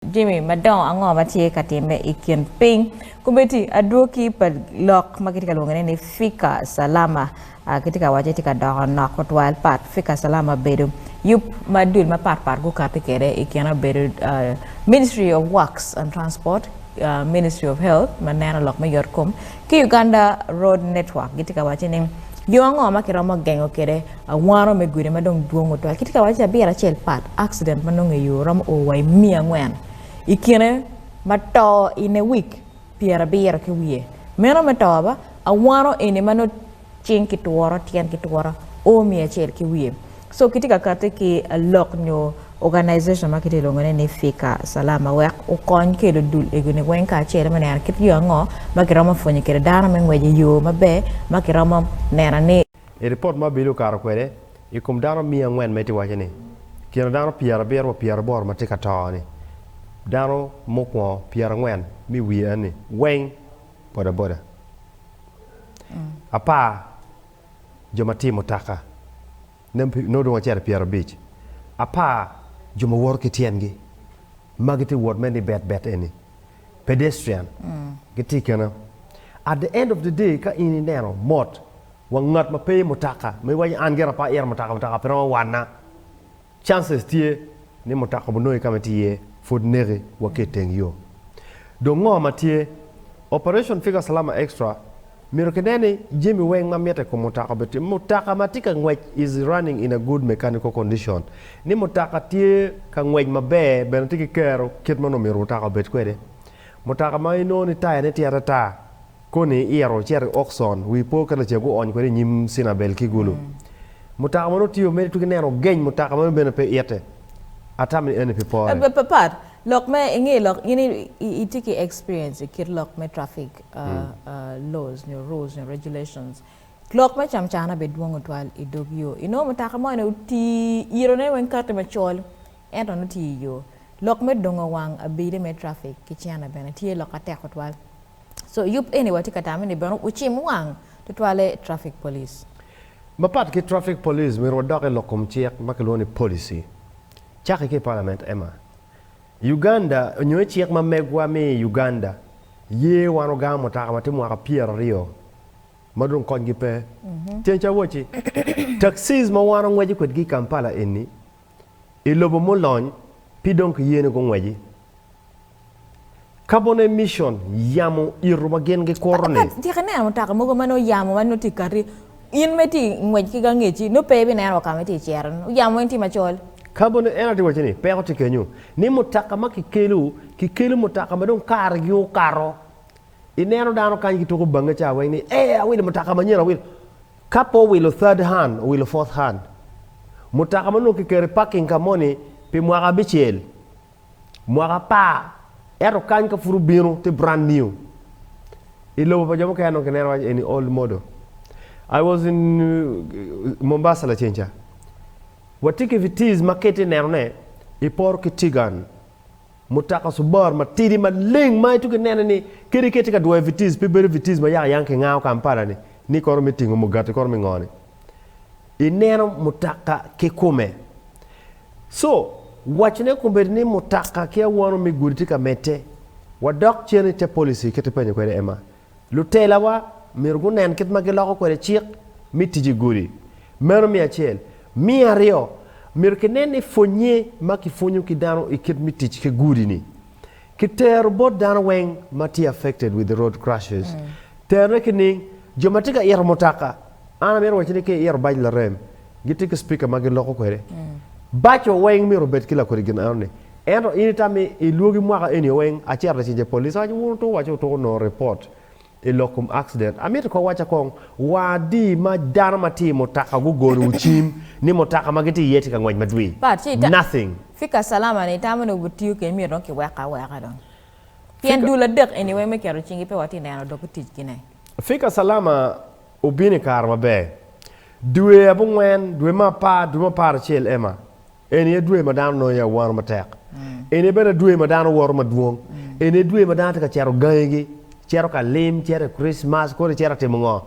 Jami madongo ango ma tye ka timme i kin piny? Komitti adwoki pa lok ma kitye ka lwonge ni Fika Salama kitye ka waco ni tye ka doko nok tutwal. Pat Fika Salama bedo yub ma dul mapat pat gukati kwede i kine obedo Ministry of Works and Transport, Ministry of Health ma neno lok me yot kom, ki Uganda Road Network gitye ka waco ni yo ango ma kiromo gengo kwede awano me gudi ma dong dwong tutwal. Kitye ka waco ni abiro acel pat accident ma nongo i yo romo o wa i miya angwen i kine ma to in a week pyerabiro ki wiye. Meno me to ba awano eni ma nongo Cing ki tworo, tyen ki tworo, oo miyo acel ki wiye. So kitye ka kati ki lok nyo organization ma kitye lwongo ne ni Fika Salama wek okony kelo dul ego ni weng kacel me neno kit yo ango ma kiromo pwonyo kwede dano me ngwec i yo maber ma kiromo neno ni I ripot ma Billy okato kwede, i kom dano miya angwen ma itye waco ni kine dano pyerabiro wa pyeraboro ma tye ka to ni, dano mukwongo pyerangwen mi wiye ni, weng. bodaboda, apar jo ma tiyo i mutoka, nongo dong wacito i pyerabic, apar jo ma woto ki tyengi ma gitye ka wot me ni bet bet eni, pedestrian, gitye kene. At the end of the day ka in ineno mot wa ngat ma pe i mutoka ma iwaco ni an gire pe ayito mutoka, mutoka pe romo wanna. Chances tye ni mutoka obunongi kama itye iye pud neki wa ki iteng yo. Dong ngo ma tye? Operation Fika Salama Extra myero ki nen ni jami weng ma mitte ikom mutoka obedo tye. Mutoka ma tye ka ngwec is running in a good mechanical condition. Ni mutoka tye ka ngwec maber bene tye ki kero kit ma nongo myero mutoka obed kwede. Mutoka ma inongo ni taya ne tye atatar. Koni iito ocito i Okcon, wi po ka lacego oony kwede i nyim Cinabel ki Gulu. Mutoka ma nongo tye omede ituki neno ogeny mutoka ma nongo bene pe iite. Atamo ni eni pi pore. Pat lok me inge lok in itye ki experience i kit lok me traffic laws nyo rules nyo regulations. Lok me camcana bene dwong tutwal i dog yo. Inongo mutoka mo ni oti iito ne weng kati macol ento nongo tye iyo. Lok me dongo wang abide me traffic ki cene bene tye lok atek tutwal. So yub eni watye ka tamo ni bene wucim wang tutwalle Traffic Police. Mapat ki Traffic Police, myero wadok i lok kom cik ma kilwongo ni Policy. Cake ki i Palament, Emma. I Uganda, nyo i cik ma megwa mi i Uganda ye wan ogamo mutaka ma tye mwaka pyeraryo ma dong konygi pe. Ceng ca wacci, taxis ma wan ongweco kwedgi i Kampala eni I lobo mulony, pi dong kiyene gungweci. Kabone micon yamo ito ma gin gikuro ni. Tika ineno mutoka mogo ma nongo yamo ma nongo tye kati in ma itye ngwec ki gangeci nongo pe ibineno wa ka ma itye cito ni yamo weng tye macol. Kabone en aye tye waco ni peko tye kenyo ni mutoka ma kikelo kikelo mutoka ma dong kare gi okato ineno dano kany gituko bange ca weng ni ee awilo mutoka manyen awilo Ka pe owilo third hand, owilo fourth hand. Mutoka ma onongo kiketo i parking ka moni pi mwaka abicel, mwaka apar, ento kany ka pud obino tye brand new. I lobo pa jo mukene onongo kineno waco eni old model. I was in Mombasa lacen ca. Watye ki Vitz ma ka itye nenone, iporo ki Tigan. Mutoka Subaru matidi maleng ma itwero nene ni kadi ka itye ka dwoyo i Vitez, pe bedo Vitez ma yaka yang kingawo Kampala-ni, ni kono me tingo mugati kono me ngo-ni. Ineno mutoka kikome. So, wacone kombeddi ni mutoka ki awono me gudi tye ka medde. Wadok cen i te policy kit ipenyo kwede Emma. Lutelawa myero gunen kit ma giloko kwede cik me tic i gudi. Meno me acel. Me aryo, myero kinen ni pwonnye ma kipwonyo ki dano i kit me tic ki gudi-ni, kitero bot dano weng ma tye affected with the road crashes. Terone ki niing, jo ma tye ka ito mutoka, an amito wacci ni ka iito bac larem, Gitye ki cipika ma giloko kwede. Baco weng myero obed ki lakodi gin enoni. Ento in itami i lwogi mwaka eni weng, acito lacen je police awaco wun otuko waco otuko nongo report i lok kom accident. Amito kong waca kong, wa adi ma dano ma tye i mutaka gugoniwu cim ni mutaka ma gitye iye tye ka ngwec madwi? But ci ita, Nothing. Fika Salama ni itamo ni obitiyo kede myero dong kiweke aweka dong. Pien Fika. dul adek eni weng me keto cingi pe watye neno dok i ticgi ne. Fika Salama Obino i kare maber. Dwe abongwen, dwe me apar, dwe me apar acel ema. Eni aye dwe ma dano nongo iye awano matek. Eni aye bene dwe ma dano woto madwong. Eni aye dwe ma dano tye ka cito gangigi, cito ka lim, cito i Kricmac, kodi cito ka timo ngo.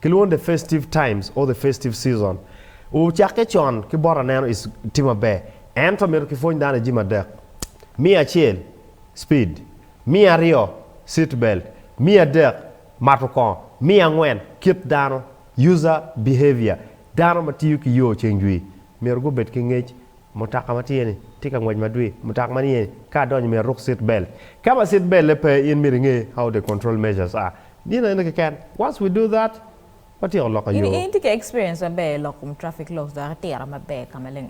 Kilwongo ni the festive times or the festive season. Ocakke con ki bot aneno is tye maber. Ento myero kipwony dano i jami adek, Me acel, speed. Me aryo, seat belt. Me adek, Mato kongo. Me angwen, kit dano, user behavior, dano ma tiyo ki yo ceng jwi myero gubed ki ngec, mutaka ma tye ni tye ka ngwec madwi, mutaka ma niye ni ka adonyo myero aruk seat belt, ka ma seat belt-te pe in myero inge how the control measures are, gin eno keken, once we do that, watyeko loko yo. In itye ki experience maber i loko kom traffic laws dok itiro maber ka maleng.